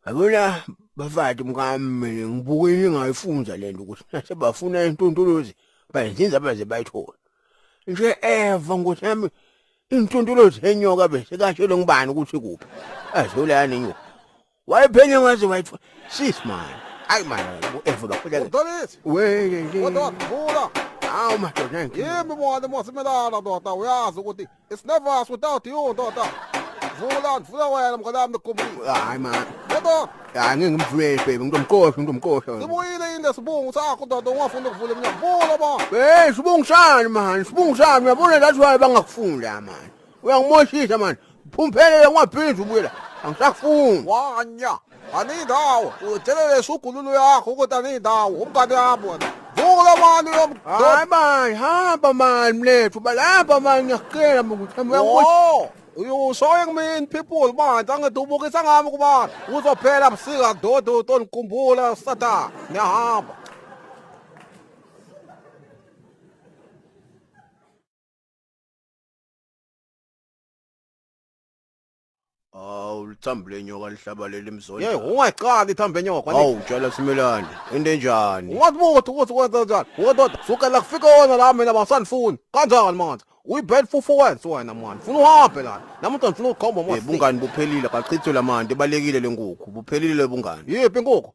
Yabona bafati mkami mina ngibuke into engayifunza le nto ukuthi nase bafuna intuntuluzi bayenzinza baze bayithole. Nje eva ngothi yami intuntuluzi enyoka bese kashelo ngibani ukuthi kuphi. Azula yani nyoka. Wayephenya ngaze wayithola. Sis man. Hayi man eva bakhuleka. Udalisi. Weye nje. Kodwa wakhula. Awu madoda nje. Yimi mona mosimela la ndoda uyazi ukuthi It's never us without you, ndoda. Vula, vula wena mnganami nigumile. Hayi man. Yebo. Hayi ngeke ngimvulele baby, ngizomqosha, ngizomqosha. Sibuyile yini lesibungu sakho ndoda ungafuni ukuvula iminyango. Vula ba. Hey, sibungu sani man, sibungu sani. Uyabona that's why bangakufuni la man. Uyangimoshisa man. Phumphele ngwaphila ubuye la. Angisakufuni. Wanya. Ani dawo, udelele sugululu yakho ukuthi ani dawo, umngane yami wena. Vuka lo mani lo mdoda. Hayi manje, hamba mani mlethu, balapha mani ngiyakucela manje ukuthi hamba uyakuthi. Oh, you showing me in people bandla ngidubukisa ngami kuba uzophela busika dodo tonikumbula sata niyahamba Awu lithambo lenyoka lihlabalela imzonda. Yey ungayixaki ithambo lenyoka kwani? Awu tshela simelane. Into enjani? Ungazibuthi ukuthi kwenza njani. Ngododa sukela kufika wona la mina basandifuni. Kanjani manje? Uyibheli fufu wenze wena manje. Funa uhambe la. Nami ngifuna ukukhomba manje. Bungani buphelile kachithwe lamanti ebalekile lenkukhu. Buphelile bungani. Yiphi inkukhu?